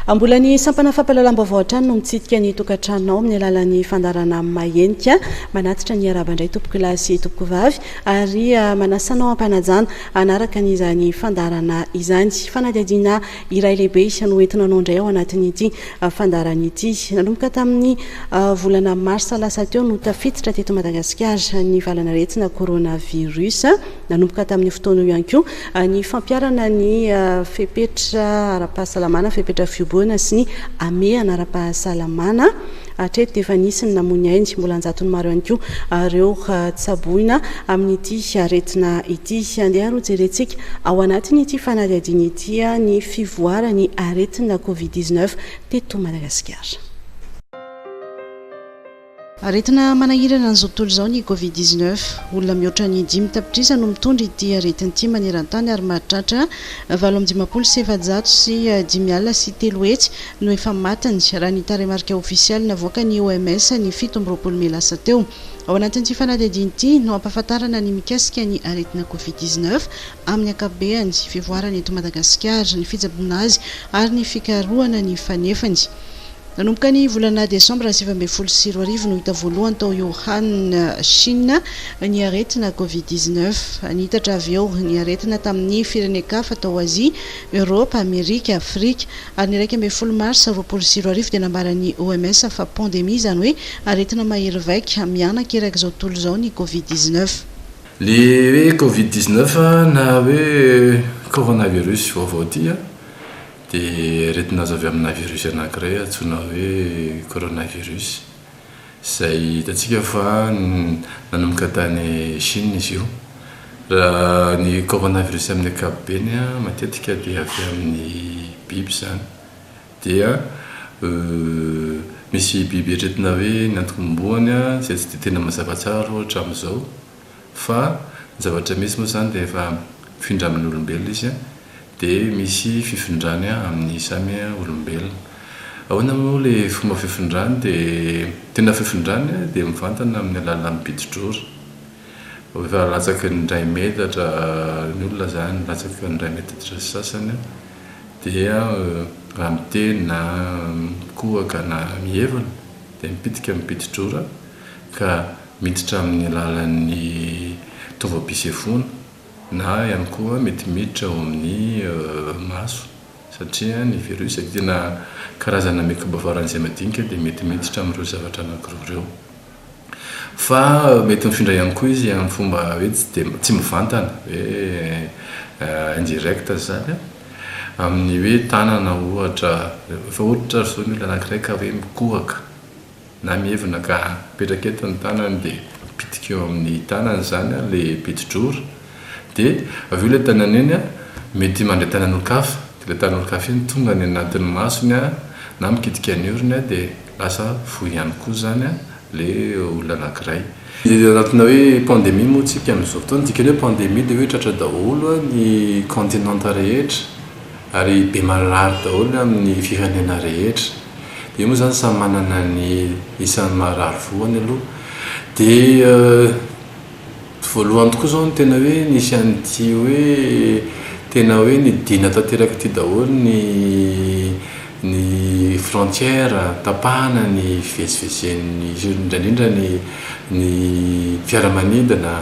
Mbola ny sampana fampahalalam-baovao hatrany no mitsidika ny tokantranonao amin'ny alalan'ny fandarana mahenika. Manatitra ny araba indray tompoko lahy sy tompoko vavy ary ah, manasanao ampanajana anaraka an'izany fandarana izany. Fanadihadiana iray lehibe no entina anao indray ao anatin'ity fandaharana ity. Nanomboka tamin'ny volana marsa lasa teo no tafiditra teto Madagasikara ny valan'aretina coronavirus. Nanomboka tamin'io fotoana io ihany koa ny fampiharana ny fepetra ara-pahasalamana, fepetra fihoboana sy ny hamehana ara-pahasalamana. Hatreto dia efa nisy ny namoy ny ainy, mbola an-jatony maro ihany koa ireo tsaboina amin'ity aretina ity. Andeha aloha jerentsika ao anatin'ity fanadihadiana ity. dia ny fivoaran'ny aretina Covid dix neuf teto Madagasikara. Aretina manahirana an'izao tontolo izao ny Covid dix neuf. Olona mihoatra ny dimy tapitrisa no mitondra ity aretina ity maneran-tany ary mahatratra valo amby dimampolo sy efajato sy dimy alina sy telo hetsy no efa matiny, raha ny tarehimarika ofisialy navoakan'ny OMS ny fito amby roapolo mey lasa teo. Ao anatin'ity fanadihadiana ity no ampahafantarana ny mikasika ny aretina Covid dix neuf. amin'ny ankapobeany, fivoarany eto Madagasikara, ny fitsaboana azy ary ny fikarohana ny fanefany. Nanomboka ny volana desambra sivy ambin'ny folo sy roa arivo no hita voalohany tao Wuhan, Shina, ny aretina Covid dix-neuf. Niitatra avy eo ny aretina tamin'ny firenen-kafa tao Azia, Eoropa, Amerika, Afrika, ary ny iraika ambin'ny folo marsa roapolo sy roa arivo dia nambaran'ny OMS fa pandemia, izany hoe aretina mahery vaika, miana-kerak'izao tontolo izao ny Covid dix-neuf. Le hoe covid dix neuf na hoe coronavirus vaovao ity an, dia aretina azo avy amina virus anankiray antsoina hoe coronavirus, izay hitantsika fa nanomboka tany Chine izy io. Raha ny coronavirus amin'ny ankapobeny an, matetika dia avy amin'ny biby izany. dia misy biby eritreretina hoe ny antokom-boany izay tsy dia tena mazava tsara aloha hatramin'izao fa ny zavatra misy moa izany dia efa mifindra amin'ny olombelona izy dia misy fifindrany amin'ny samy olombelona. Ahoana moa ilay fomba fifindrany dia tena fifindrany dia mivantana amin'ny alalan'ny bidi-drory. Efa latsaky ny iray metatra ny olona izany, latsaky ny iray metatra sy sasany. dia raha miteny na mikohaka na mihevona dia mipitika mipidi-drora ka miditra amin'ny alalan'ny taovam-pisefoana na ihany koa mety miditra ao amin'ny maso satria ny virus dia tena karazana mikroba faran'izay madinika dia mety miditra amin'ireo zavatra anankiroa ireo. Fa mety mifindra ihany koa izy amin'ny fomba hoe tsy dia tsy mivantana hoe indirect zany an, amin'ny hoe tanana ohatra, efa ohatra ary zao ny olona anakiray ka hoe mikohaka na mievina ka mipetraka eto ny tanany dia mipitiky eo amin'ny tanany zany an le piti-drora, De avy eo le tanany iny mety mandray tanan'olon-kafa, de ilay tanan'olon-kafa iny tonga any anatin'ny masony na mikitika ny orony de lasa voa ihany koa zany le olona anakiray. Antony hoe pandemie moa tsika amin'izao fotoana, ny dikan'ny hoe pandemie de hoe tratra daholo ny continente rehetra ary be marary daholo amin'ny firenena rehetra, de io moa zany samy manana ny isan'ny marary voany aloha de. Voalohany tokoa izao ny tena hoe nisy an'ity hoe tena hoe nidina tanteraka ity daholo ny ny frontière, tapahana ny fivezivezen'ny indrindra indrindra ny ny fiaramanidina,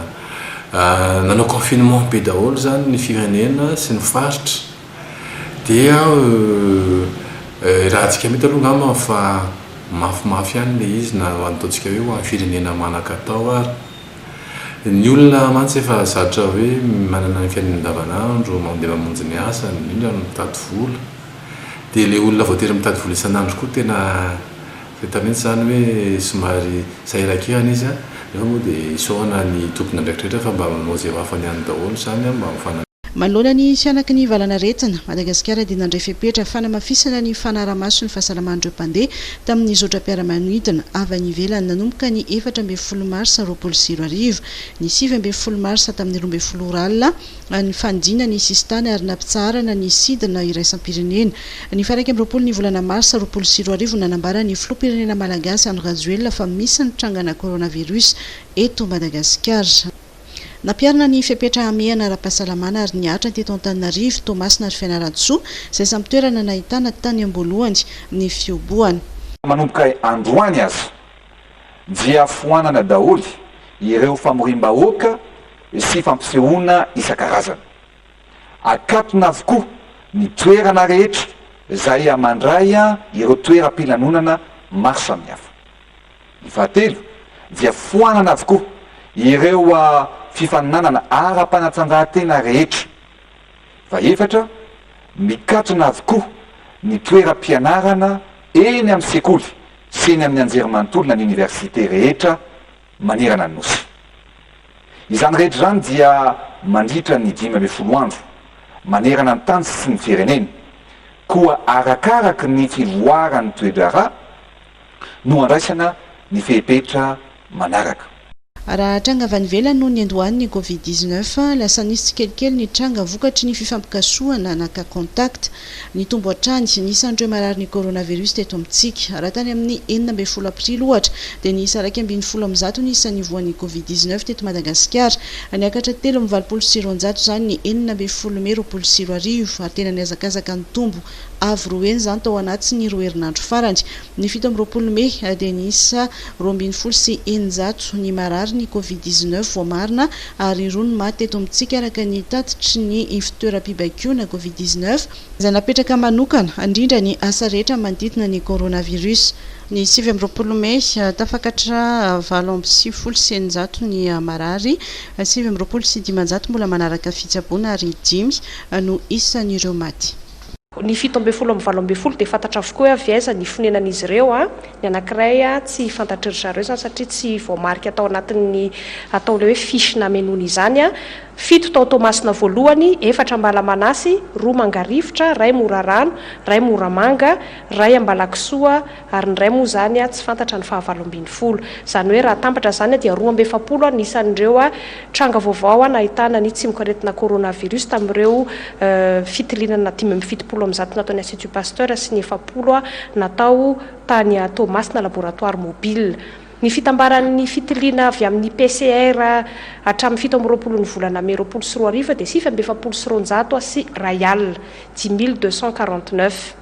nanao confinement be daholo izany ny firenena sy ny faritra. Dia euh raha antsika mety aloha angamba fa mafimafy ihany ilay izy na ataontsika hoe ho an'ny firenena manan-katao ary. Ny olona mantsy efa zatra hoe manana ny fiainany andavanandro, mandeha mamonjy ny asany, indrindra ny mitady vola. Dia ilay olona voatery mitady vola isan'andro koa tena fahita mihitsy izany hoe somary sahiran-kihana izy an! Nefa moa dia isaorana ny tompon'andraikitra rehetra fa mba manao izay ho afany ihany daholo izany an! Manoloana ny hanaky ny valanaretina, Madagasikara dia nandray fepetra fanamafisana ny fanarahamaso ny fahasalaman'ireo mpandeha tamin'ny zotram-piaramanidina avy any ivelany nanomboka ny efatra ambin'ny folo marsa roapolo sy roa arivo. Ny sivy ambin'ny folo marsa tamin'ny roa ambin'ny folo ora alina, ny fanidina ny sisintany ary nampitsaharana ny sidina iraisam-pirenena. Ny faha iraika amby roapolo ny volana marsa roapolo sy roa arivo no nanambara ny filoham-pirenena malagasy Andry Rajoelina fa misy ny trangana coronavirus eto Madagasikara. Nampiharina ny fepetra hamehana ara-pahasalamana ary nihatra teto Antananarivo, Toamasina ary Fianarantsoa, izay samy toerana nahitana tany am-boalohany ny fihobohana. Manomboka androany aza dia foanana daholo ireo famoriam-bahoaka sy fampisehoana isan-karazany. Akatona avokoa ny toerana rehetra izay mandray ireo toeram-pilanonana maro samihafa. Ny fahatelo dia foanana avokoa ireo fifaninanana ara-panatanjahantena rehetra. Fahefatra, mikatona avokoa ny toeram-pianarana eny amin'ny sekoly sy eny amin'ny anjerimanontolo na ny oniversite rehetra manerana ny Nosy. Izany rehetra izany dia mandritra ny dimy ambin'ny folo andro, manerana ny tany sy ny firenena, koa arakaraka ny fivoaran'ny toe-draharaha, no handraisana ny fepetra manaraka. Raha tranga avy any ivelany no niandohan'ny Covid dix-neuf, lasa nisy tsikelikely ny tranga vokatry ny fifampikasohana na cas contact. Nitombo hatrany ny isan'ireo marary ny coronavirus teto amintsika. Raha tany amin'ny enina ambin'ny folo aprily, ohatra, dia niisa iraika ambin'ny folo amin'ny zato ny isa nivohan'ny Covid dix-neuf teto Madagasikara. Niakatra telo amin'ny valopolo sy roanjato izany ny enina ambin'ny folo mey roapolo sy roa arivo, ary tena nihazakazaka nitombo Avo roa heny izany tao anatin'ny roa herinandro farany. Ny fito amby roapolo mey dia niisa roa ambin'ny folo sy eninjato ny marary ny Covid dix neuf voamarina ary roa ny maty eto amintsika araka ny tatitry ny fitoeram-pibaikoana Covid dix neuf izay napetraka manokana handrindra ny asa rehetra manodidina ny coronavirus. Ny sivy amby roapolo mey, tafakatra valo amby sivifolo sy eninjato ny marary, sivy amby roapolo sy dimanjato mbola manaraka fitsaboana ary dimy no isan'ireo maty. Ny fito ambin'ny folo amin'ny valo ambin'ny folo dia fantatra avokoa hoe avy aiza ny fonenan'izy ireo. Ny anankiray tsy fantatry ry zareo izany satria tsy voamarika tao anatin'ny ataon'ilay hoe fiche namenoana izany. Fito tao Toamasina voalohany, efatra Ambalamanasy, roa Mangarivotra, iray Morarano, iray Moramanga, iray Ambalakisoa, Ary ny iray moa izany tsy fantatra ny fahavalo ambin'ny folo. Izany hoe raha atambatra izany dia roa amby efapolo ny isan'ireo tranga vaovao nahitana ny tsimokaretina coronavirus tamin'ireo fitilianana dimy amby fitopolo amin'ny zato nataon'ny Institut Pasteur sy ny efapolo natao tany Toamasina, laboratoire mobile. Ny fitambaran'ny fitiliana avy amin'ny PCR hatramin'ny fito amby roapolo ny volana mey roapolo sy roa arivo dia sivy amby efapolo sy roanjato sy iray alina, dix mille deux cent quarante-neuf.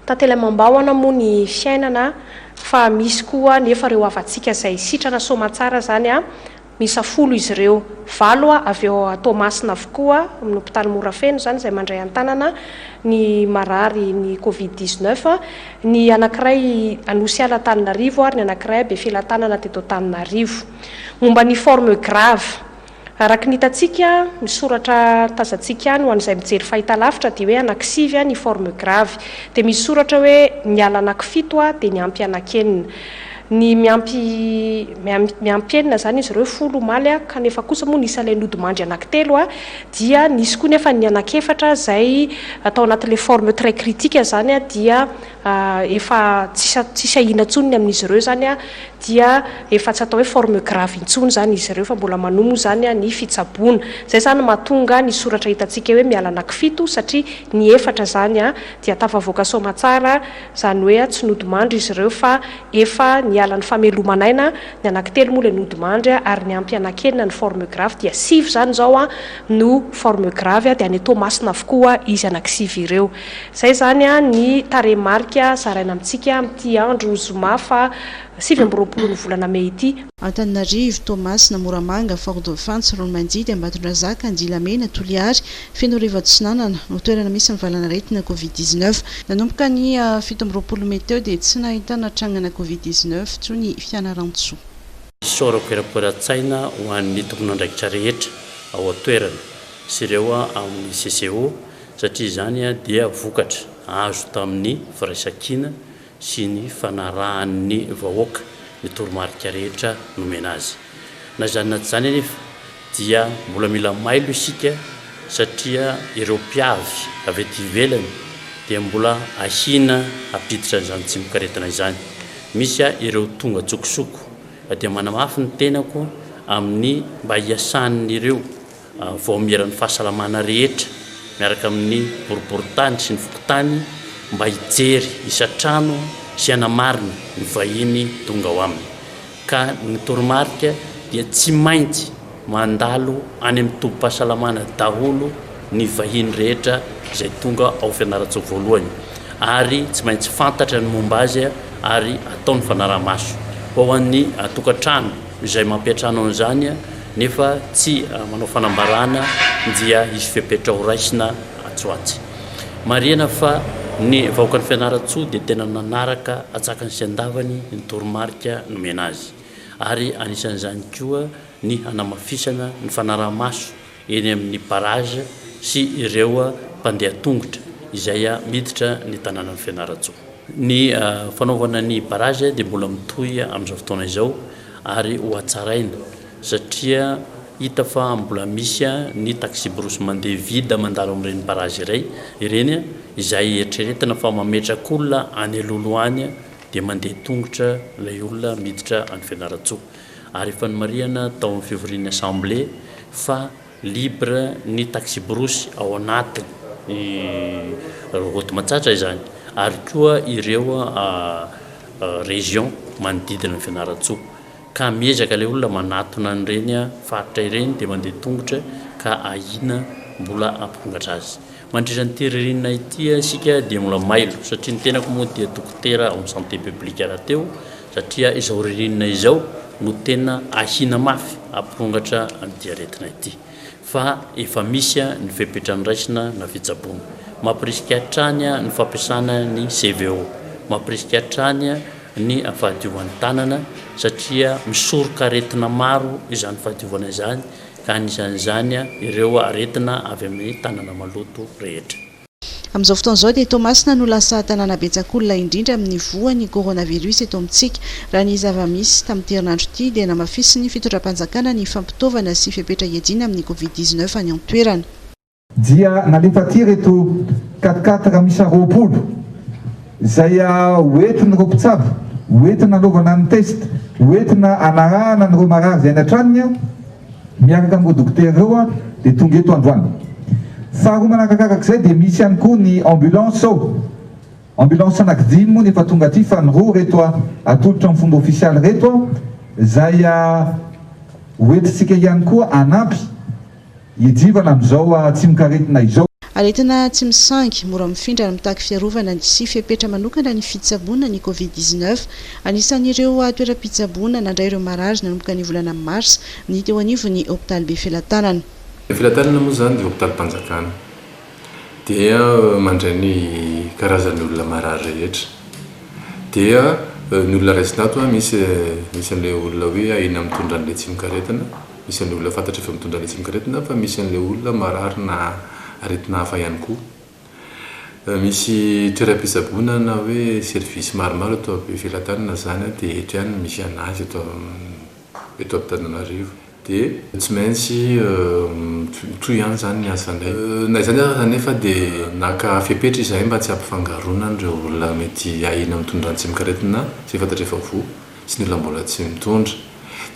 Tantelamam-bahona moa ny fiainana fa misy koa nefa ireo havantsika izay sitrana soamantsara izany a! Miisa folo izy ireo, valo avy eo Toamasina avokoa no mpitaly mora feno izany izay mandray an-tanana ny marary ny covid dix neuf, ny anankiray Anosy Ala Antananarivo ary ny anankiray Befelatanana teto Antananarivo. Momba ny forme grave Araka ny hitantsika, ny soratra tazantsika any ho an'izay mijery fahitalavitra dia hoe anakisivy ny forme grave. Dia misy soratra hoe miala anakifito dia miampy anakenina. Ny miampy miampy enina izany izy ireo folo omaly kanefa kosa moa ny isan'ilay nodimandry anakitelo dia nisy koa nefa ny anakefatra izay tao anatin'ilay forme très critique izany dia efa tsisy ahiana intsony ny amin'izy ireo izany dia efa tsy atao hoe forme grave intsony izany izy ireo fa mbola manohy moa izany ny fitsaboana. Izay izany no mahatonga ny soratra hitantsika hoe miala anakifito satria ny efatra izany dia tafavoaka soamatsara izany hoe tsy nodimandry izy ireo fa efa niala ny fameloman'aina, ny anakitelo moa ilay nodimandry ary ny ampy anakenina ny forme grave dia sivy izany izao no forme grave dia any Toamasina avokoa izy anakisivy ireo. Izay izany ny tarehimarika zaraina amintsika amin'ity andro zoma faha sivy amby roapolon'ny volana mey ity. Antananarivo, Toamasina, Moramanga, Fort Dauphin, Tsiroanomandidy, Ambatondrazaka, Andilamena, Toliary, Fenoarivo Atsinanana no toerana misy ny valanaretina Covid dix neuf. Nanomboka ny fito amby roapolo mey teo dia tsy nahitana trangana Covid dix neuf intsony i Fianarantsoa. Sorakoerakoeran-tsaina ho an'ny tomponandraikitra rehetra ao an-toerana sy ireo amin'ny CCO satria izany dia vokatra azo tamin'ny firaisankina sy ny fanarahan'ny vahoaka ny toromarika rehetra nomena azy. Na izany na tsy izany anefa dia mbola mila mailo isika satria ireo mpiavy avy ety ivelany dia mbola ahiana hampiditra an'izany tsimok'aretina izany. Misy ireo tonga an-tsokosoko dia manamafy ny tenako amin'ny mba hiasan'ireo. vaomieran'ny fahasalamana rehetra miaraka amin'ny boriborintany sy ny fokontany mba hijery isan-trano sy hanamarina ny vahiny tonga ao aminy ka ny toromarika dia tsy maintsy mandalo any amin'ny tobim-pahasalamana daholo ny vahiny rehetra izay tonga ao Fianarantsoa voalohany ary tsy maintsy fantatra ny momba azy ary atao ny fanaraha-maso ho an'ny tokantrano izay mampiantrano an'izany nefa tsy manao fanambarana dia hisy fepetra ho raisina atsy ho atsy. Marihana fa ny vahoakan'i Fianarantsoa dia tena nanaraka atsakany sy andavany ny toromarika nomena azy ary anisan'izany koa ny hanamafisana ny fanaraha-maso eny amin'ny barrage sy ireo mpandeha tongotra izay miditra ny tanànan'i Fianarantsoa. Ny fanaovana ny barrage dia mbola mitohy amin'izao fotoana izao ary ho hatsaraina satria hita fa mbola misy ny taxi-brousse mandeha vide mandalo amin'ireny barrage iray ireny izay eritreretina fa mametraka olona any Lolo any dia mandeha tongotra ilay olona miditra any Fianarantsoa. ary efa nomarihana tao amin'ny fivorian'ny Assemblée fa libre ny taxi-brousse ao anatin'ny route Matsatra izany ary koa ireo région manodidina an'i Fianarantsoa ka miezaka ilay olona manatona an'ireny faritra ireny dia mandeha tongotra ka ahiana mbola hampirongatra azy. Mandritra an'ity ririnina ity isika dia mbola mailo satria ny tenako moa dia dokotera ao amin'ny santé publique rahateo satria izao ririnina izao no tena ahiana mafy hampirongatra an'ity aretina ity fa efa misy ny fepetra noraisina na fitsaboana. Mampirisika hatrany ny fampiasana ny CVO, mampirisika hatrany ny fahadiovan'ny tanana satria misoroka aretina maro izany fahadiovana izany ka anisan'izany ireo aretina avy amin'ny tanana maloto rehetra. Amin'izao fotoana izao dia Toamasina no lasa tanàna betsak'olona indrindra amin'ny voan'ny coronavirus eto amintsika. Raha ny zava-misy, tamin'ity herinandro ity dia namafisin'ny fitondram-panjakana ny fampitaovana sy fepetra hiadiana amin'ny covid dix-neuf any an-toerana. Dia nalefa aty ireto quat-quatre miisa roapolo izay ho entin'ireo mpitsabo, ho entina hanaovana ny test, ho entina hanarahana an'ireo marary izay any an-tranony. Miaraka amin'ireo dokotera ireo aho dia tonga eto androany. Faharoa manarakarak'izay dia misy ihany koa ny ambulance ao. Ambulance anaky dimy moa no efa tonga aty fa ny roa ireto atolotra amin'ny fomba ofisialy ireto izay hoentintsika ihany koa hanampy hiadivana amin'izao tsimokaretina izao. Aretina tsy misangy, mora mifindra ary mitaky fiarovana sy fepetra manokana ny fitsaboana ny Covid dix neuf. Anisan'ireo toeram-pitsaboana nandray ireo marary nanomboka ny volana marsa ny teo anivon'ny hopitaly Befelatanana. Befelatanana moa izany dia hopitalim-panjakana dia mandray ny karazan'ny olona marary rehetra. Dia ny olona raisina ato, misy an'ilay olona hoe ahiana mitondra an'ilay tsimokaretina. Isan'ny olona fantatry ireo mitondra lesin-karetina fa misy an'ilay olona marary na aretina hafa ihany koa. Misy toeram-pitsaboana na hoe service maromaro eto am-pelatany na izany dia eto ihany no misy an'azy eto eto Antananarivo dia tsy maintsy mitohy ihany izany ny asanay. Na izany aza anefa dia naka fepetra izahay mba tsy hampifangaroana an'ireo olona mety ahiana mitondra antsimo-karetina izay fantatr'efa voa. sy ny olona mbola tsy mitondra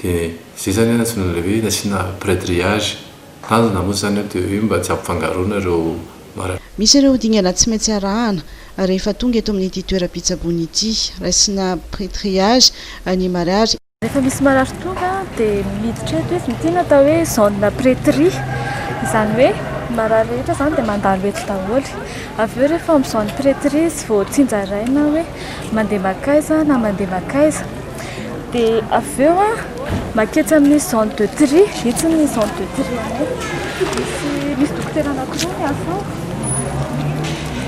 dia izay zany antsoina ilay hoe nasiana pré-triage, tanjona moa zany dia hoe mba tsy hampifangaroana ireo. Misy ireo dingana tsy maintsy arahana rehefa tonga eto amin'ity toeram-pitsaboana ity, raisina pré-triage ny marary. Rehefa misy marary tonga dia miditra eto izy, ity no atao hoe zone pré-tri, izany hoe marary rehetra izany dia mandalo eto daholo, avy eo rehefa amin'ny zone pré-tri izy vao tsinjaraina hoe. mandeha makaiza na mandeha makaiza dia avy eo a maketsy amin'ny zone de tri itsy ny zone de tri anay misy misy dokotera anankiroa miasa ao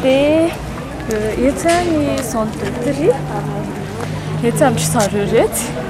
dia etsy a ny zone de tri etsy amin-dry zareo iretsy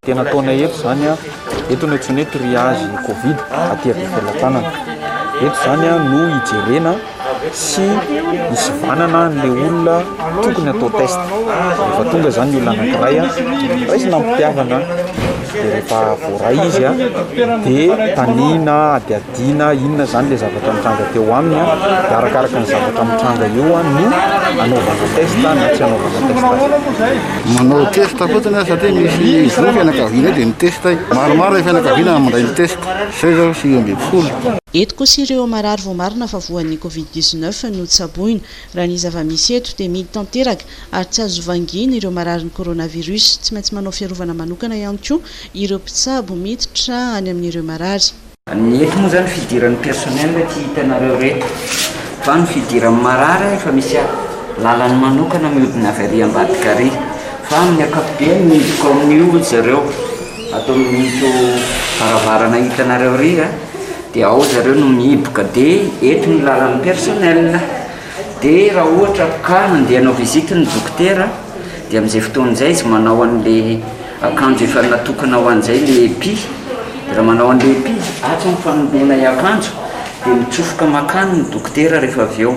Tena ataonay eto izany an, eto no antsoina hoe triage covid aty Befelatanana. Eto izany an no hijerena sy hisivanana an'ilay olona tokony atao test. Rehefa tonga izany ny olona anankiray an, raisina am-pitiavana dia rehefa voaray izy an dia taniana adiadiana. Dina inona izany ilay zavatra mitranga teo aminy dia arakaraka ny zavatra mitranga eo no anaovana test na tsy anaovana test azy. Manao test fotsiny aho satria misy groupe fianakavianay dia mi-test ahy. Maromaro ilay fianakaviana no mandray ny test. Izay izao sivy ambin'ny folo. Eto kosa ireo marary voamarina fa voan'ny Covid dix neuf no tsaboina. Raha ny zava-misy eto dia mihidy tanteraka ary tsy azo vangina ireo mararin'ny coronavirus. Tsy maintsy manao fiarovana manokana ihany koa ireo mpitsabo miditra any amin'ireo marary. Ny eto moa zany fidiran'ny personnel tsy hitanareo reto fa ny fidiran'ny marary efa misy lalany manokana miodina avy ary ambadika ary fa amin'ny akapobeany midiko amin'io ry zareo ato amin'ito varavarana hitanareo ary dia ao zareo no mihiboka dia eto ny lalan'ny personnel. Dia raha ohatra ka nandeha hanao visite ny dokotera dia amin'izay fotoana izay izy manao an'ilay akanjo efa natokana ho an'izay ilay epi, dia raha manao an'ilay epi izy atsy amin'ny fanoloana i akanjo dia mitsofoka makany ny dokotera rehefa avy eo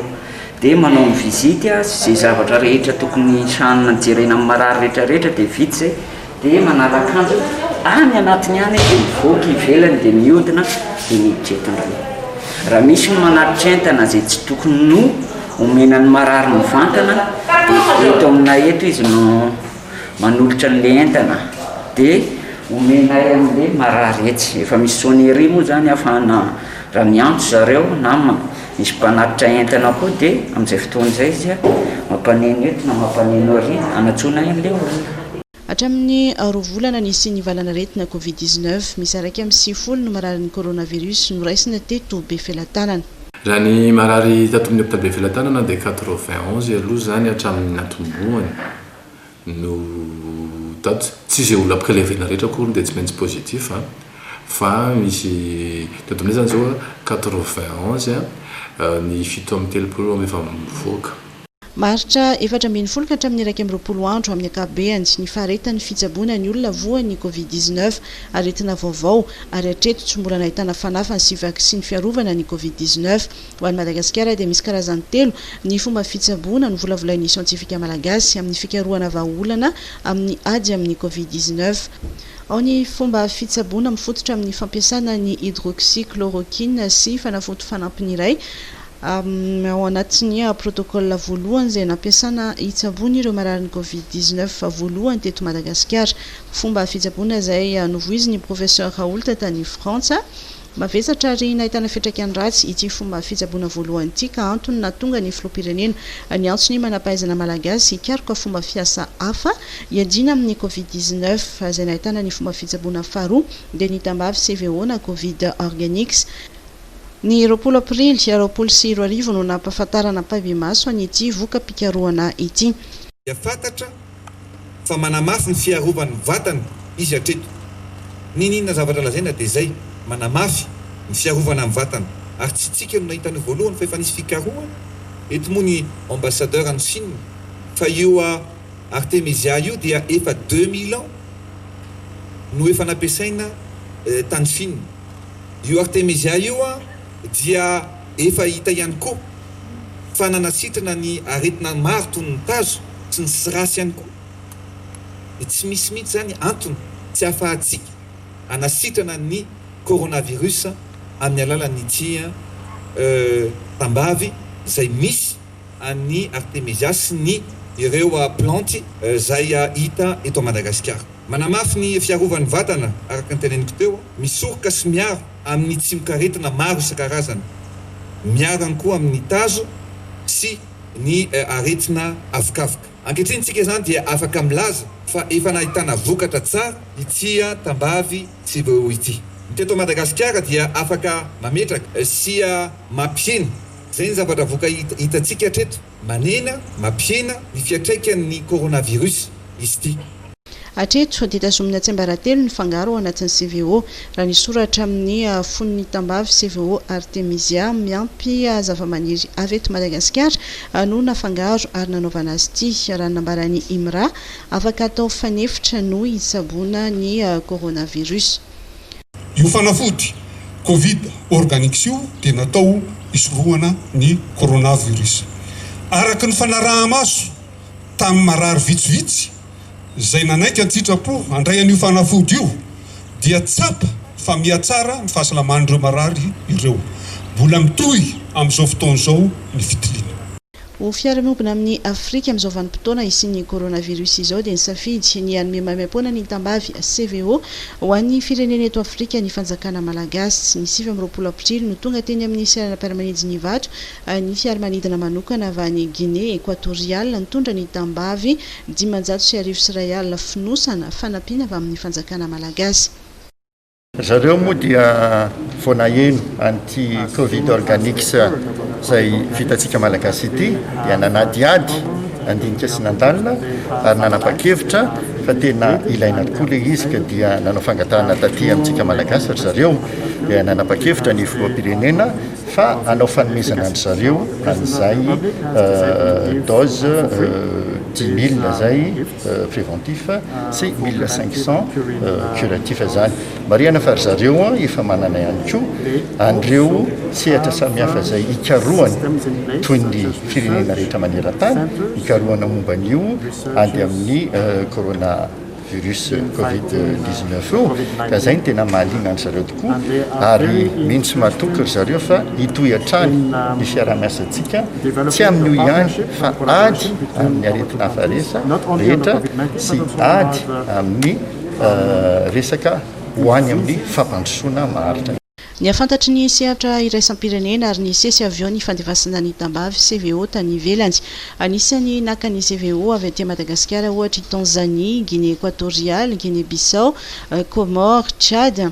dia manao ny visite sy izay zavatra rehetra tokony hijanona jerena amin'ny marary rehetra rehetra dia vita izay. Dia manala akanjo any anatiny any dia mivoaka ivelany dia miodina dia miditra eto indray. Raha misy ny manatitra entana izay tsy tokony no omena ny marary mivantana dia eto aminay eto izy no manolotra an'ilay entana dia omenay an'ilay marary etsy. Efa misy sonnerie moa izany ahafahana raha miantso zareo na misy mpanatitra entana koa dia amin'izay fotoana izay izy mampaneno eto na mampaneno arỳ hanatsoana an'ilay olona. Hatramin'ny roa volana nisian'ny valan'aretina Covid dix neuf, misy iraika amby sivifolo no mararin'ny coronavirus noraisina teto Befelatanana. Raha ny marary tato amin'ny hopitaly Befelatanana dia quatre-vingt onze aloha izany hatramin'ny natombohany no tato. Tsy izay olona prelevena rehetra akory dia tsy maintsy positif fa misy teto aminay izany izao quatre-vingt onze ny fito amby telopolo no efa mivoaka. Maharitra efatra ambin'ny folo ka hatramin'ny iraika amby roapolo andro amin'ny ankapobeany ny faharetan'ny fitsaboana ny olona voan'ny Covid dix-neuf, aretina vaovao ary hatreto tsy mbola nahitana fanafany sy vaksiny fiarovana ny Covid dix-neuf. Ho an'i Madagasikara dia misy karazany telo ny fomba fitsaboana novolavolain'ny siantifika malagasy amin'ny fikarohana vahaolana amin'ny ady amin'ny Covid dix-neuf. Ao ny fomba fitsaboana mifototra amin'ny fampiasana ny hydroxychloroquine sy fanafody fanampiny iray, Ao anatin'ny protocole voalohany izay nampiasana hitsaboana ireo mararin'ny Covid dix neuf voalohany teto Madagasikara. Fomba fitsaboana izay novoizin'ny Professeur Raoult tany Frantsa. Mavesatra ary nahitana fiantraikany ratsy ity fomba fitsaboana voalohany ity ka antony nahatonga ny Filoham-pirenena niantso ny manampahaizana Malagasy hikaroka fomba fiasa hafa hiadiana amin'ny Covid dix neuf izay nahitana ny fomba fitsaboana faharoa dia ny tambavy sy VO na Covid Organics Ny roapolo aprily roapolo sy roa arivo no nampahafantarana am-pahibemaso an'ity voka-pikarohana ity. Dia fantatra fa manamafy ny fiarovan'ny vatana izy hatreto. N'inon'inona zavatra lazaina dia izay, manamafy ny fiarovana ny vatana. Ary tsy isika no nahita an'io voalohany fa efa nisy fikarohana, eto moa ny ambassadeur any Chine, fa io Artemisia io dia efa deux mille ans no efa nampiasaina tany Chine. Io Artemisia io dia efa hita ihany koa fa nanasitrana ny aretina maro toy ny tazo sy ny srasy ihany koa. Dia tsy misy mihitsy izany antony tsy ahafahantsika hanasitrana ny coronavirus amin'ny alalan'ity tambavy izay misy. an'i Artemisia sy ny ireo plantes izay hita eto Madagasikara. Manamafy ny fiarovan'ny vatana araka ny teneniko teo, misoroka sy miaro amin'ny tsimok'aretina maro isan-karazany, miaro ihany koa amin'ny tazo sy ny aretina avokavoka. Ankehitriny isika izany dia afaka milaza fa efa nahitana vokatra tsara ity tambavy CBO ity. Ny teto Madagasikara dia afaka mametraka sy mampihena Izay ny zavatra voka hitantsika hatreto. Manena, mampihena, ny fiatraikan'ny coronavirus izy ity. Hatreto dia tazomina tsiambaratelo ny fangaro ao anatin'ny CVO, raha ny soratra amin'ny fon'ny tambavy CVO Artemisia miampy zavamaniry avy eto Madagasikara no nafangaro ary nanaovana azy ity. Raha ny nambaran'i Imra, afaka atao fanefitra noho hitsaboana ny coronavirus. Io fanafody Covid Organics io dia natao hisorohana ny coronavirus. Araka ny fanaraha-maso tamin'ny marary vitsivitsy izay nanaiky an-tsitrapo handray an'io fanafody io dia tsapa fa mihatsara ny fahasalaman'ireo marary ireo. Mbola mitohy amin'izao fotoana izao ny fitiliana. Ho fiarahamonina amin'i Afrika amin'izao vanim-potoana hisian'ny coronavirus izao dia nisafidy ny hanome maimaimpoana ny tambavy CVO ho an'ny firenena eto Afrika ny fanjakana malagasy. Ny sivy amby roapolo aprily no tonga teny amin'ny seranam-piaramanidin'Ivato ny fiaramanidina manokana avy any Guinée Equatoriale nitondra ny tambavy dimanjato sy arivo sy iray alina fonosana fanampiana avy amin'ny fanjakana malagasy. Zareo moa dia vao naheno an'ity Covid Organics izay vitantsika Malagasy ity dia nanadihady nandinika sy nandalina ary nanapa-kevitra fa tena ilaina tokoa ilay izy ka dia nanao fangatahana taty amintsika Malagasy ry zareo dia nanapa-kevitra ny filoham-pirenena fa hanao fanomezana an-dry zareo an'izay dose dix mille izay préventif sy mille cinq cent curatif zany marihana fa ry zareo an efa manana ihany koa an'ireo sehatra samihafa izay hikarohana toy ny firenena rehetra maneran-tany hikarohana momba an'io ady amin'ny corona virus covid 19 io ka izay ny tena mahaliana an-dry zareo ary mino sy matoky ry zareo fa hitohy hatrany ny fiaraha-miasantsika, tsy amin'io ihany fa ady amin'ny aretin'hafa resa rehetra sy ady amin'ny resaka ho any amin'ny fampandrosoana maharitra. Nihafantatry ny sehatra iraisam-pirenena ary nisesy avy eo ny fandefasana ny tambavy CVO tany ivelany. Anisan'ny naka ny CVO avy aty Madagasikara ohatra i Tanzanie, Guinée Equatoriale, Guinée Bissau, Comores, Tchad,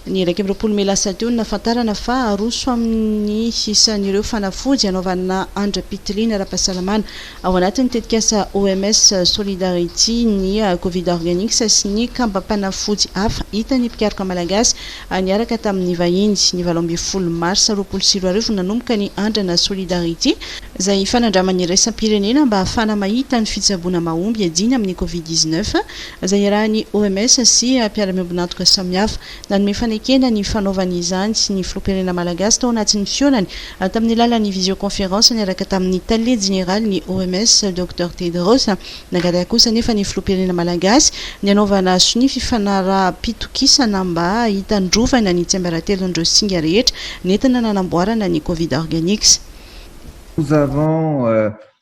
ny iraika amby roapolo mey lasa teo no nahafantarana fa aroso amin'ny isan'ireo fanafody hanaovana andram-pitiliana ara-pahasalamana ao anatin'ny tetikasa OMS Solidarity ny Covid Organics sy ny kambam-panafody hafa hitan'ny mpikaroka malagasy niaraka tamin'ny vahiny. Ny valo ambin'ny folo marsa roapolo sy roa arivo no nanomboka ny andrana Solidarity, izay fanandramana iraisam-pirenena mba hahafahana mahita ny fitsaboana mahomby hiadiana amin'ny Covid dix-neuf, Aza iarahan'ny OMS sy mpiara-miombon'antoka samihafa. Nanome fanekena ny fanaovany izany ny filoham-pirenena malagasy tao anatin'ny fihaonany tamin'ny alalan'ny visioconférence niaraka tamin'ny tale jeneralin'ny OMS, Docteur Tedros. Nangataka kosa anefa ny filoham-pirenena malagasy ny hanaovana sonia fifanaraham-pitokisana mba hitandrovana ny tsiambaratelon'ireo singa rehetra nentina nanamboarana ny Covid Organics. Nous avons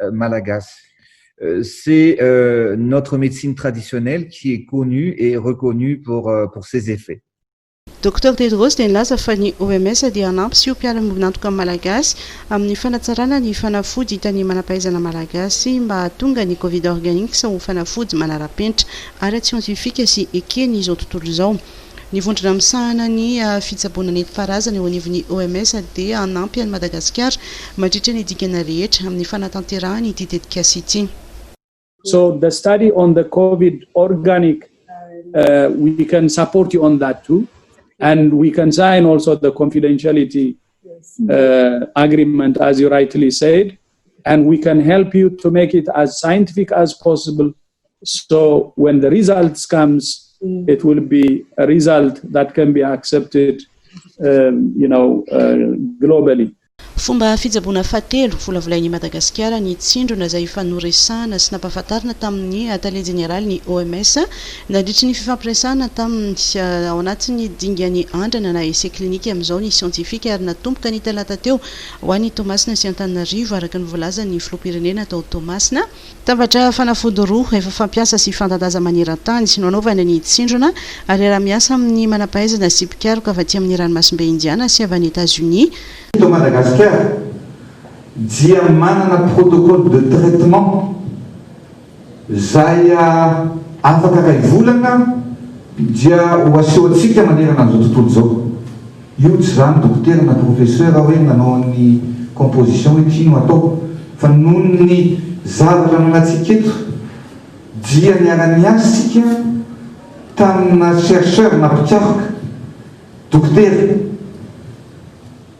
euh, malagasy. Euh, c'est euh, notre médecine traditionnelle qui est connue et reconnue pour, euh, pour ses effets. Docteur Tedros dia nilaza fa ny OMS dia hanampy sy ho mpiara-miombon'antoka malagasy amin'ny fanatsarana ny fanafody hitan'ny manam-pahaizana malagasy mba hahatonga ny Covid Organics ho fanafody manara-penitra, ara-tsiantifika sy eken'izao tontolo izao. Ny vondrona misahana ny fitsaboana nentim-paharazana eo anivon'ny OMS dia hanampy an'i Madagasikara mandritra ny dingana rehetra amin'ny fanatanterahany ity tetikasa ity. So the study on the covid organic we can support you on that too and we can sign also the confidentiality agreement as you rightly said and we can help you to make it as scientific as possible So when the results comes it will be a result that can be accepted you know globally. Fomba fitsaboana fahatelo volavolain'i Madagasikara ny tsindrona izay efa noresahana sy nampahafantarina tamin'ny Tale Jeneralin'ny OMS nandritry ny fifampiresahana tamin'ny ao anatin'ny dingan'ny andrana na essai clinique amin'izao ny siantifika ary natomboka ny talata teo ho any Toamasina sy Antananarivo araka ny voalazan'ny Filoham-pirenena tao Toamasina Tambatra fanafody roa efa fampiasa sy fanta-daza maneran-tany no anaovana ny tsindrona, ary iaraha-miasa amin'ny manam-pahaizana sy mpikaroka avy aty amin'ny Ranomasimbe Indiana sy avy any Etazonia. Eto Madagasikara dia manana protocole de traitement izay afaka iray volana dia ho asehoantsika manerana an'izao tontolo izao. Io tsy zany dokotera na professeur hoe nanao an'ny composition hoe ty no atao fa noho ny zavatra ananantsika eto dia niara niasa isika tamina chercheur na mpikaroka dokotera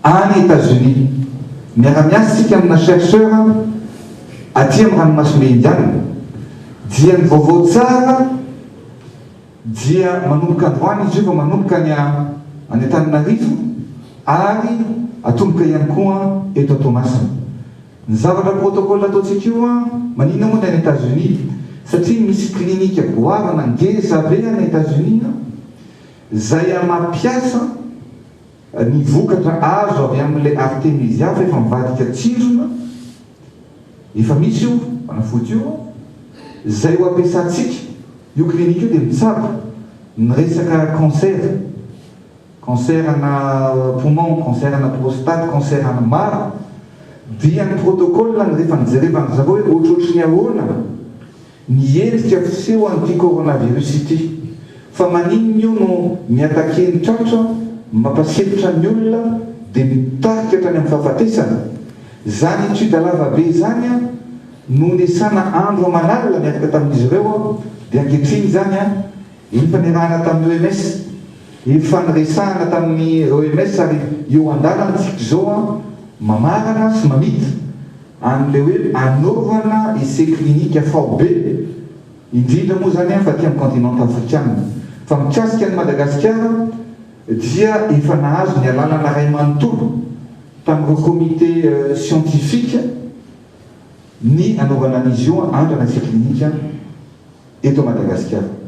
any Etats Unis miara miasa isika amina chercheur aty amin'ny ranomasimbe indianina dia ny vaovao tsara Dia manomboka androany izy io vao manomboka any any Antananarivo ary atomboka ihany koa eto Toamasina. Ny zavatra protocole ataontsika io an, maninona moa ny any Etazonia? Satria misy clinique goavana ngeza be any Etazonia an, izay an mampiasa ny vokatra azo avy amin'ilay Artemisia fa efa mivadika tsindrona, Efa misy io fanafody io izay ho ampiasantsika. Io clinique io dia mitsabo ny resaka cancer, cancer ana poumon, cancer ana prostate, cancer ana maro. Dia ny protocole rehefa nijerevandry zareo hoe ohatrohatry ny ahoana. Ny endrika fiseho an'ity coronavirus ity. Fa maninona io no mi-attaquer ny tratra, mampasilotra ny olona dia mitarika hatrany amin'ny fahafatesana? Izany étude lava be izany an, nohon-desana andro aman'alina niaraka tamin'izy ireo an, dia ankehitriny izany an, Efa niarahana tamin'ny OMS Irfan resahana tamin'ny OMS ary eo andalana isika izao an, mamarana sy mamita an'ilay hoe anaovana essais cliniques faobe indrindra moa izany an fa aty amin'ny continent afrikana. Fa mikasika an'i Madagasikara dia efa nahazo ny alalana iray manontolo tamin'ireo comité scientifique ny anaovana an'izy io andrana essais cliniques. eto Madagasikara.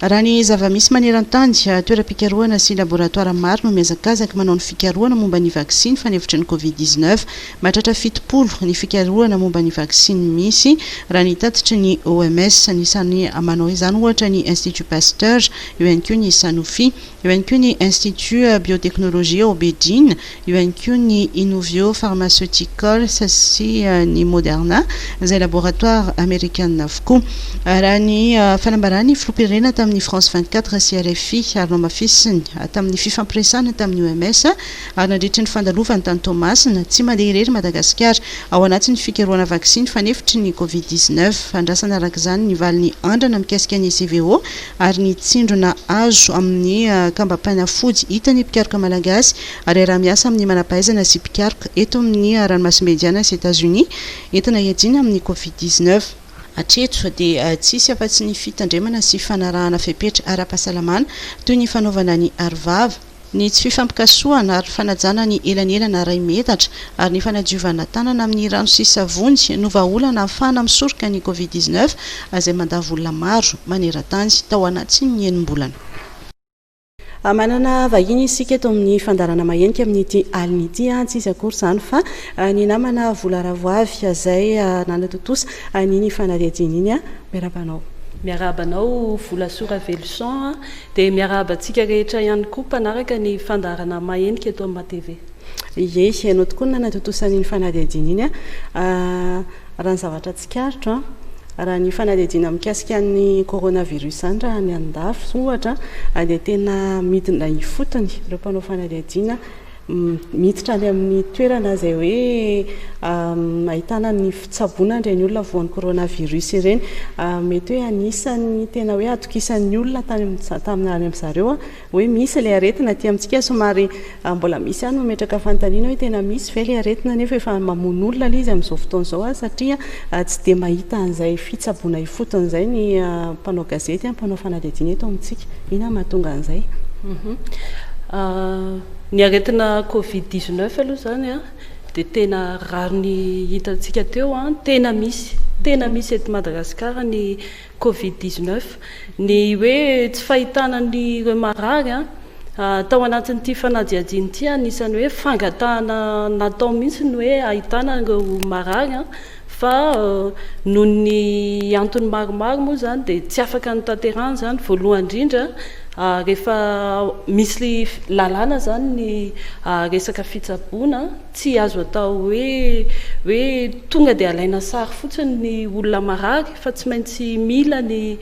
Raha ny zava-misy maneran-tany, toeram-pikarohana sy laboratoara maro no mihazakazaka manao ny fikarohana momba ny vaksiny fanefitry ny Covid dix-neuf. Mahatratra fitopolo ny fikarohana momba ny vaksiny misy, raha ny tatitry ny OMS. Anisan'ny manao izany, ohatra, ny Institut Pasteur, eo ihany koa ny Sanofi, eo ihany koa ny Institut Biotechnologie ao Beijing, Eo ihany koa ny Inovio Pharmaceuticals sy ny Moderna, izay laboratoara amerikana avokoa. Raha ny fanambaran'ny filoham-pirenena tamin'ny France vingt quatre sy rfi ary nohamafisiny tamin'ny fifampiresahana tamin'ny OMS ary nandritry ny fandalovany tany Toamasina, tsy mandeha irery Madagasikara ao anatin'ny fikarohana vaksiny fanefitry ny Covid dix neuf. Andrasana araka izany ny valin'ny andrana mikasika ny CVO ary ny tsindrona azo amin'ny kambam-panafody hitan'ny mpikaroka malagasy ary hiaraha-miasa amin'ny manampahaizana sy mpikaroka eto amin'ny ranomasimbe Indiana sy Etazonia entina hiadiana amin'ny Covid dix neuf. Hatreto dia tsy hisy afa-tsy ny fitandremana sy fanarahana fepetra ara-pahasalamana toy ny fanaovana ny arovava, Ny tsy fifampikasohana ary ny fanajana ny elanelana ara-imetatra ary ny fanadiovana tanana amin'ny rano sy savony no vahaolana hahafahana misoroka ny Covid dix neuf izay mandavo olona maro maneran-tany tao anatin'ny enim-bolana. Manana vahiny isika eto amin'ny fandaharana mahenika amin'ity alina ity. Tsy iza akory izany fa ny namana Vola Ravoavy izay nanatontosa an'iny fanadihadiana iny. Miarahaba anao. Miarahaba anao Volasoa Raveloson. Dia miarahaba antsika rehetra ihany koa mpanaraka ny fandaharana Mahenika eto amin'ny Matv. Ie, ianao tokoa no nanatontosa an'iny fanadihadiana iny an! Raha ny zavatra tsikaritro an! Raha ny fanadihadiana mikasika an'ny coronavirus izany raha any an-dafy ohatra an, dia tena midina ifotony ireo mpanao fanadihadiana, Miditra any amin'ny toerana izay hoe ahitana ny fitsaboana an'ireny olona voan'ny coronavirus ireny. Mety hoe anisan'ny tena hoe atokisan'ny olona tany amin'ny tamin'ny any amin'ny zareo hoe misy ilay aretina. Aty amintsika somary mbola misy ihany mametraka fanontaniana hoe tena misy ve ilay aretina nefa efa mamono olona ilay izy amin'izao fotoana izao ary satria tsy dia mahita an'izay fitsaboana ifotony izay ny mpanao gazety, mpanao fanadihadiana eto amintsika. Inona no mahatonga an'izay? Ny aretina covid dix neuf aloha izany an, dia tena rariny hitantsika teo an, tena misy, tena misy eto Madagasikara ny covid dix neuf, ny hoe tsy fahitana an'ireo marary an, tao anatin'ity fanadihadiana ity anisan'ny hoe fangatahana natao mihitsy ny hoe ahitana ireo marary an, Fa noho ny antony maromaro moa izany dia tsy afaka notanterahana izany, voalohany indrindra rehefa misy lalàna izany ny resaka fitsaboana, tsy azo atao hoe hoe tonga dia alaina sary fotsiny ny olona marary fa tsy maintsy mila ny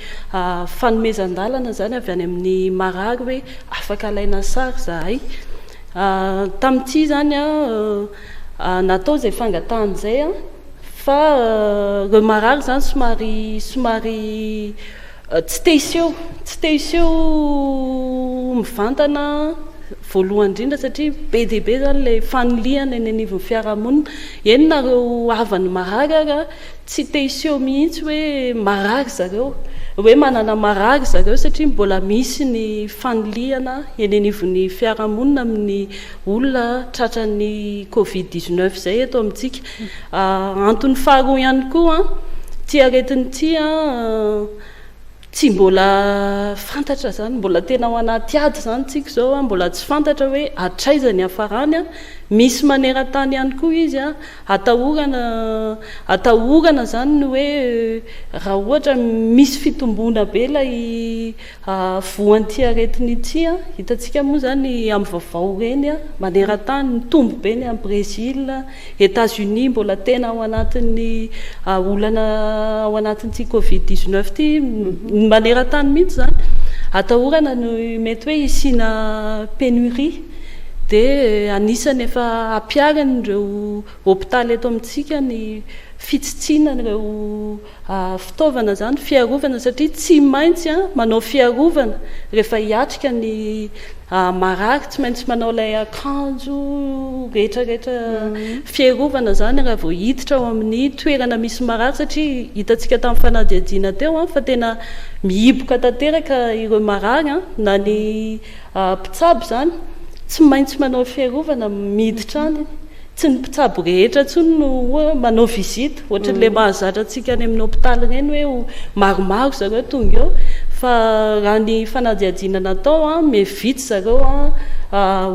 fanomezan-dalana izany avy any amin'ny marary hoe afaka alaina sary izahay. Tamin'ity izany an, Natao izay fangatahana izay an! Fa ireo marary izany somary somary tsy te hiseho, tsy te hiseho mivantana voalohany indrindra satria be dia be izany ilay fanilihana eny anivon'ny fiarahamonina. Eny na ireo havan'ny marary ary tsy te hiseho mihitsy hoe marary zareo, hoe manana marary zareo satria mbola misy ny fanilihana eny anivon'ny fiarahamonina amin'ny. olona tratran'ny covid 19 izay eto amintsika. Ah, antony faharoa ihany koa, ity aretina ity an, tsy mbola fantatra izany, mbola tena ao anaty ady izany tsika izao, mbola tsy fantatra hoe hatraiza ny hafarany an, misy maneran-tany ihany koa izy an, atahorana atahorana izany ny hoe raha ohatra misy fitomboana be ilay Voan'ity aretina ity, hitantsika moa izany amin'ny vaovao ireny maneran-tany, mitombo be ny any Brezila, Etats Unis mbola tena ao anatin'ny olana ao anatin'ity covid 19 ity, maneran-tany mihitsy izany, atahorana ny mety hoe hisiana pénurie, dia anisany efa hampiharin'ireo hopitaly eto amintsika ny fitsitsiana ireo. Fitaovana izany fiarovana satria tsy maintsy manao fiarovana rehefa hiatrika ny marary tsy maintsy manao ilay akanjo rehetra rehetra fiarovana izany raha vao hiditra ao amin'ny toerana misy marary satria hitantsika tamin'ny fanadihadiana teo fa tena mihiboka tanteraka ireo marary na ny mpitsabo izany tsy maintsy manao fiarovana miditra any Tsy ny mpitsabo rehetra intsony no oa manao visite, ohatran'ilay mahazatra antsika any amin'ny hopitaly ireny hoe ho maromaro zareo tonga eo, fa raha ny fanadihadiana natao an, me vitsy zareo an,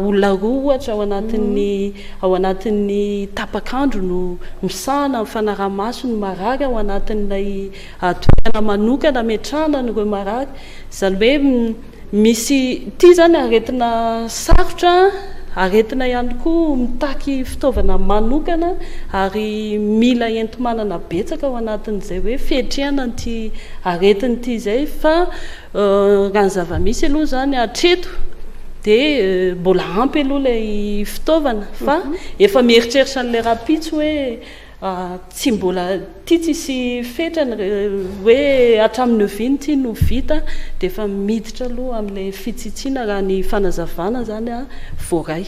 olona roa ohatra ao anatin'ny ao anatin'ny tapak'andro no misahana ny fanaraha-maso ny marary ao anatin'ilay toerana manokana ametrahana an'ireo marary, izany hoe Misy ity izany aretina sarotra, aretina ihany koa mitaky fitaovana manokana ary mila enti-manana betsaka ao anatin'izay hoe fiatrehana an'ity aretina ity izay fa raha ny zava-misy aloha izany hatreto dia mbola ampy aloha ilay fitaovana fa efa mieritreritra an'ilay rahampitso hoe Tsy mbola tia tsisy fetra ny hoe hatramin'ny oviana ity no vita dia efa miditra aloha amin'ilay fitsitsiana raha ny fanazavana izany voaray.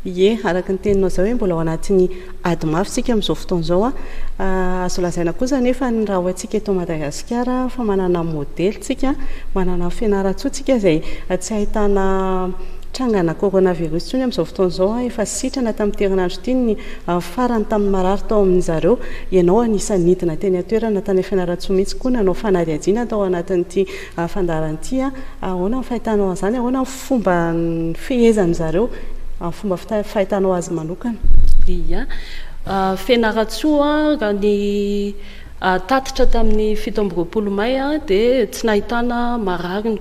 Ie, araka ny teninao izao hoe mbola ao anatin'ny ady mafy isika amin'izao fotoana izao. Azo lazaina kosa anefa ny raha hoantsika eto Madagasikara fa manana modely tsika, manana Fianarantsoa tsika izay tsy ahitana trangana coronavirus intsony amin'izao fotoana izao. Efa sitrana tamin'ity herinandro ity ny Ary farany tamin'ny marary tao amin-dry zareo, ianao anisan'ny nidina teny an-toerana tany Fianarantsoa mihitsy koa nanao fanadihadiana tao anatin'ity fandaharana ity. Ahoana ny fahitanao an'izany? Ahoana ny fomba nifehezan-dry zareo amin'ny fomba fahitanao azy manokana? Ia. Fianarantsoa, raha ny tatitra tamin'ny fito amby roapolo may dia tsy nahitana marary ny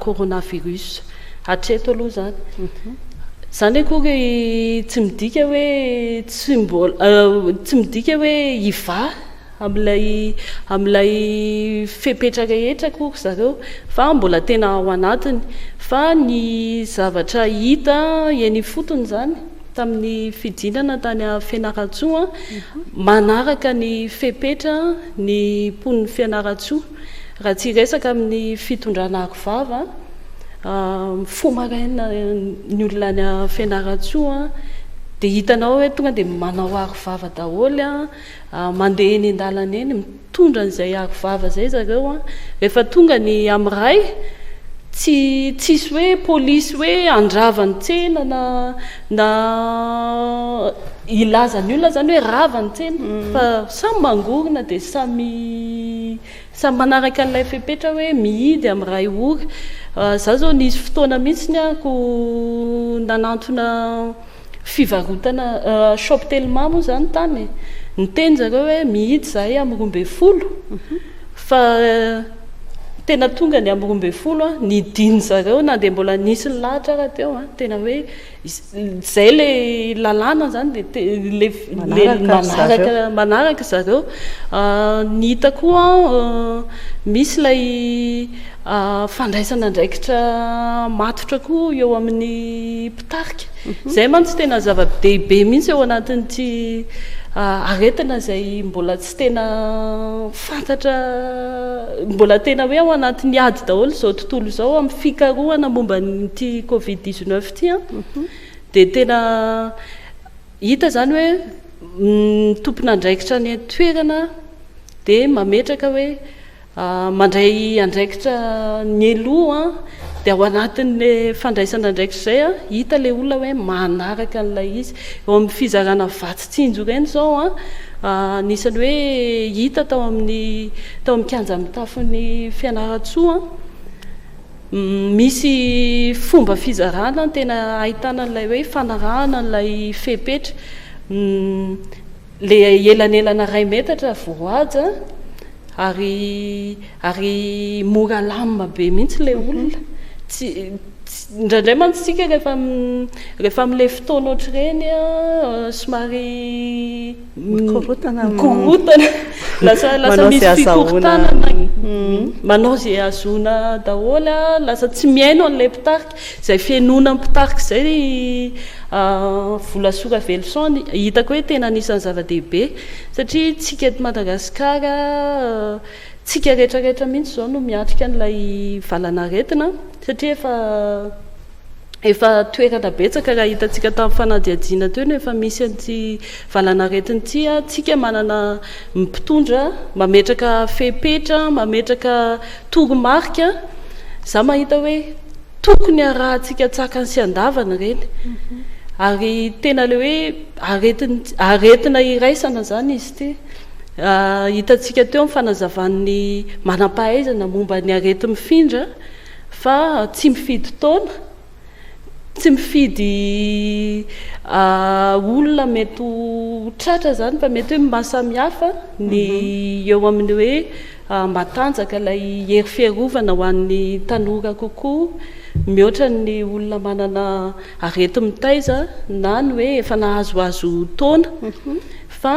coronavirus. Hatreto aloha izany. Izany akory tsy midika hoe tsy mbola, tsy midika hoe hivaha amin'ilay amin'ilay fepetra rehetra akory zareo fa mbola tena ao anatiny. Fa ny zavatra hita eny ifotony izany tamin'ny fidinana tany Fianarantsoa, manaraka ny fepetra ny mponin'i Fianarantsoa. Raha tsy hiresaka amin'ny fitondrana aro vava, mifoha maraina ny olona any Fianarantsoa dia hitanao hoe tonga dia manao aro vava daholo, mandeha eny an-dalana eny, mitondra an'izay aro vava izay zareo, rehefa tonga ny amin'ny ray, tsy tsisy hoe polisy hoe handrava ny tsena na, Na hilaza ny olona zany hoe rava ny tsena fa samy mangorona dia samy samy manaraka an'ilay fepetra hoe mihidy amin'ny iray ora. Za zao nisy fotoana mihitsiny aho ko nanantona fivarotana shop telma moa zany tany e, niteny zareo hoe mihidy zahay amin'ny roa ambin'ny folo fa Tena tonga ny amin'ny roa ambin'ny folo an, ny dindo zareo na dia mbola nisy ny lahatra ara teo an, tena hoe izay ilay lalàna izany dia ilay manaraka manaraka zareo. Ny hita koa an, misy ilay fandraisana andraikitra matotra koa eo amin'ny mpitarika. Izay mantsy tena zava-dehibe mihitsy eo anatin'ity aretina izay mbola tsy. Tsy tena fantatra, mbola tena hoe ao anatin'ny ady daholo izao tontolo izao amin'ny fikarohana momba an'ity covid dix neuf ity an, dia tena hita izany hoe ny tompon'andraikitra any an-toerana dia mametraka hoe Mandray andraikitra nieloha dia ao anatin'le fandraisana andraikitra izay hita le olona hoe manaraka an'ilay izy. Eo amin'ny fizarana vatsy tsinjo ireny izao anisan'ny hoe hita tao amin'ny tao amin'ny kianja mitafon'i Fianarantsoa misy fomba fizarana tena ahitana an'ilay hoe fanarahana an'ilay fepetra Le elanelana ray metatra vao haja ary ary mora lam be mihitsy le olona tsy indraindray mantsy isika rehefa rehefa amle fotoana ohatr'ireny somary mikorotana mikorotana lasa lasa misy fikorontanana manao ze ahazoana daholo lasa tsy mihaino anle mpitarika Izay fihenoana mpitarika izay ry Vola Soa Raveloson hitako hoe tena anisan'ny zava-dehibe satria tsika eto Madagasikara tsika retraretra mihitsy izao no miatrika an'ilay valanaretina satria efa efa toerana betsaka raha hitantsika tamin'ny fanadihadiana teo no efa misy an'ity valanaretina ity tsika manana mpitondra mametraka fepetra mametraka Toromarika, Za mahita hoe tokony arahantsika tsakany sy andavany ireny. Ary tena le hoe aretina iraisana zany izy ity. Hitantsika teo amin'ny fanazavan'ny manam-pahaizana momba ny areti-mifindra fa tsy mifidy taona. Tsy mifidy olona mety ho tratra izany fa mety hoe mahasamihafa ny mhm. eo amin'ny hoe ah, matanjaka ilay hery fiarovana ho an'ny tanora kokoa mihoatra ny olona manana areti-mitaiza na ny hoe efa nahazoazo taona mhm. fa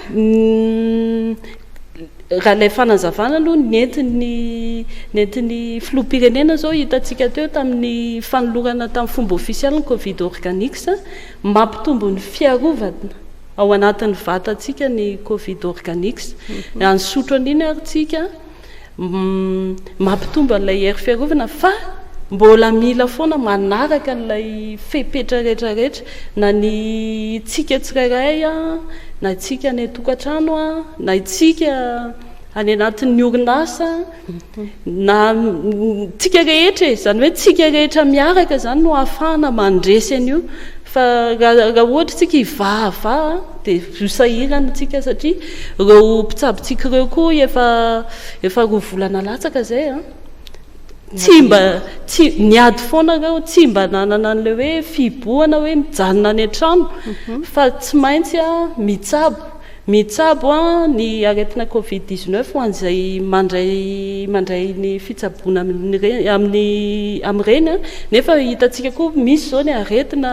Ny raha ilay fanazavana aloha nentin'ny nentin'ny filoham-pirenena izao hitantsika teo tamin'ny fanolorana tamin'ny fomba ofisialy ny Covid Organics, mampitombo ny fiarovana ao anatin'ny vatantsika ny Covid Organics. Hanisotro an'iny ary tsika. Mampitombo an'ilay hery fiarovana fa mbola mila foana manaraka an'ilay fepetra rehetra rehetra na ny tsika tsirairay na tsika any an-tokantrano na itsika any anatin'ny orinasa na tsika rehetra e izany hoe tsika rehetra miaraka izany no hahafahana mandresy an'io fa raha ohatra tsika hivahavaha dia Zo sahirana antsika satria ireo mpitsabontsika ireo koa efa efa roa volana latsaka izay an! tsy mba tsy niady foana ireo tsy mba nanana an'ilay hoe fihibohana hoe mijanona any an-trano fa tsy maintsy an mitsabo mitsabo an ny aretina covid dix neuf ho an'izay mandray mandray ny fitsaboana amin'ireny amin'ny amin'ireny an! nefa hitantsika koa misy izao ny aretina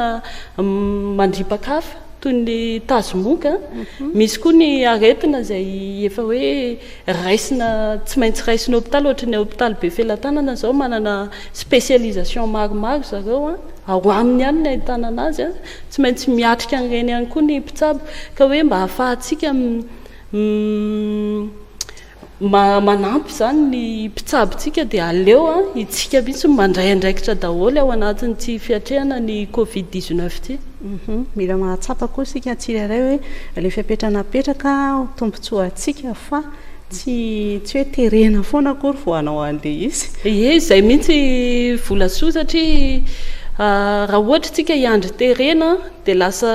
mandripa-kafa. toy ny tazomoka, misy koa ny aretina izay efa hoe raisina tsy maintsy raisina hopitaly ohatry ny hopitaly Befelatanana izao manana spécialisation maromaro zareo an, ao aminy ihany no ahitana anazy an, tsy maintsy miatrika an'ireny ihany koa ny mpitsabo ka hoe mba ahafahantsika mi Manampy izany ny mpitsabo antsika dia aleo isika mihitsy no mandray andraikitra daholo ao anatin'ity fiatrehana ny covid dix neuf ity. Mila mahatsapa koa isika tsirairay hoe ilay fepetra napetraka ho tombontsoa antsika fa tsy tsy hoe terena foana akory vao hanao an'ilay izy. Ie, izay mihitsy vola soa satria raha ohatra isika hiandry terena dia lasa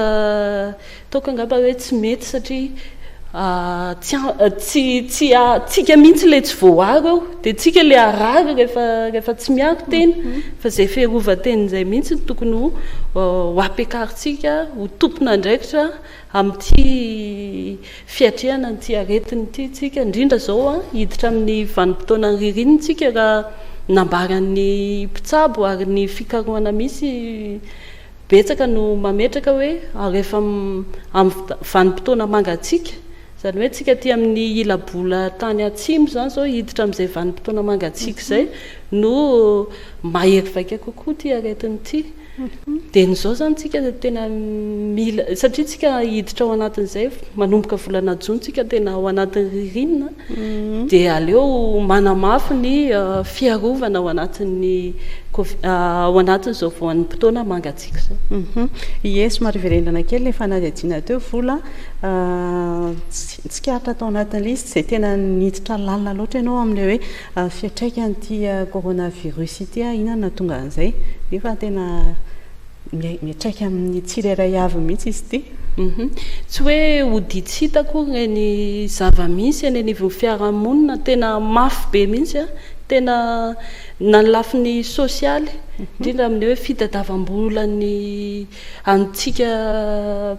Toaka angamba hoe tsy mety satria tsy tsy tsy tsika mihitsy ilay tsy voaaro eo dia tsika ilay harary rehefa rehefa tsy miaro tena fa izay fiarovan-tena izay mihitsy no tokony ho ho ampiakarintsika ho tompon'andraikitra amin'ity fiatrehana an'ity aretina ity tsika indrindra izao an hiditra amin'ny vanim-potoanan'ny ririnina tsika raha nambaran'ny mpitsabo ary ny fikarohana misy Betsaka no mametraka hoe rehefa amin'ny vanim-potoana mangatsiaka, izany hoe isika aty amin'ny ila-bola tany atsimo izany izao hiditra amin'izay vanim-potoana mangatsiaka izay no mahery vaika kokoa ity aretina ity. Dieny izao izany isika tena mila, satria isika hiditra ao anatin'izay manomboka volana jona isika tena ao anatin'ny ririnina, dia aleo manamafy ny fiarovana ao anatin'ny ao anatin'izao voanim-potoana mangatsiaka izao. Ie, somary hiverenana kely ilay fanadihadiana teo, Vola. Tsikaritra tao anatin'ny lisitra izay tena niditra lalina loatra ianao amin'ilay hoe fiantraikan'ity coronavirus ity, inona no nahatonga an'izay, nefa tena. Miatraika amin'ny tsirairay avy mihitsy izy ity. Tsy hoe ody tsy hita akory ireny zava-misy eny anivon'ny fiarahamonina, tena mafy be mihitsy, tena na ny lafiny sosialy, indrindra amin'ny hoe fitadiavam-bolan'ny antsika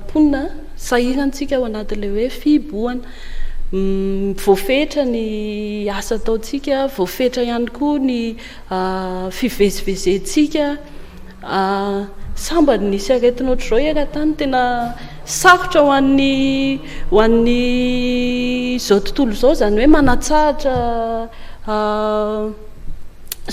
mponina, sahirantsika ao anatin'ilay hoe fihibohana. Voafetra ny asa ataontsika, voafetra ihany koa ny fivezivezentsika, Ah sambany nisy aretina ohatr'izao eran-tany tena sarotra ho an'ny ho an'ny izao tontolo izao izany hoe manatsahatra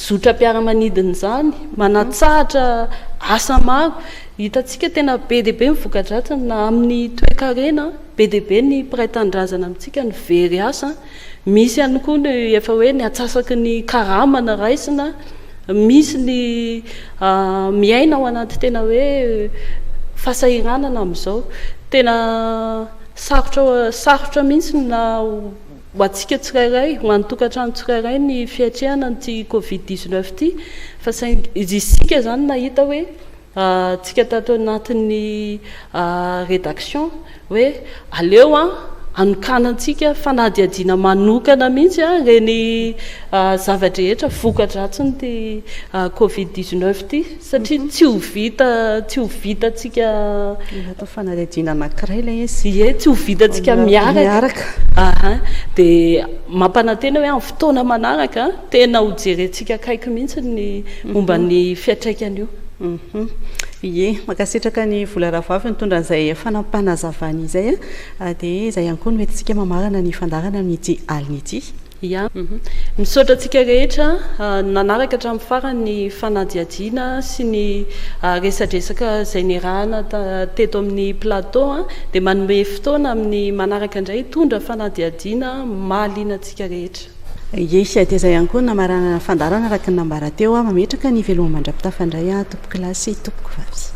zotram-piaramanidina izany, manatsahatra asa maro. Hitantsika tena be dia be ny voka-dratsiny na amin'ny toe-karena, be dia be ny mpiray tanindrazana amintsika no very asa. Misy ihany koa ny efa hoe ny atsasaky ny karama na raisina, misy ny miaina ao anaty tena hoe fahasahiranana amin'izao. Tena sarotra sarotra mihitsy ny na ho antsika tsirairay, ho an'ny tokantrano tsirairay ny fiatrehana an'ity covid dix-neuf ity fa saingy isika izany nahita hoe Antsika tato anatin'ny redaction hoe aleo anokanantsika fanadihadiana manokana mihitsy ireny zava-drehetra voka-dratsin'ity covid dix-neuf ity satria tsy ho vita tsy ho vitantsika Mila atao fanadihadiana anankiray ilay izy. Ie, tsy ho vitantsika miaraka. Dia mampanantena hoe amin'ny fotoana manaraka. Tena ho jerentsika akaiky mihitsy ny momba ny fiantraikany io. Ie, mankasitraka an'i Vola Rahavavy nitondra an'izay fanapanazavana izay a. Dia izay ihany koa no entintsika mamarana ny fandaharana amin'ity alina ity. Ia. Misaotra antsika rehetra nanaraka hatramin'ny farany ny fanadihadiana sy ny resadresaka izay niarahana teto amin'ny plateau a. Dia manome fotoana amin'ny manaraka indray hitondra fanadihadiana mahaliana antsika rehetra. Ie sy aty izay ihany koa ny namaranana fandaharana araka ny nambara teo aho. Mametraka ny veloma mandra-pitafa indray aho tompoko lahy sy tompoko vavy.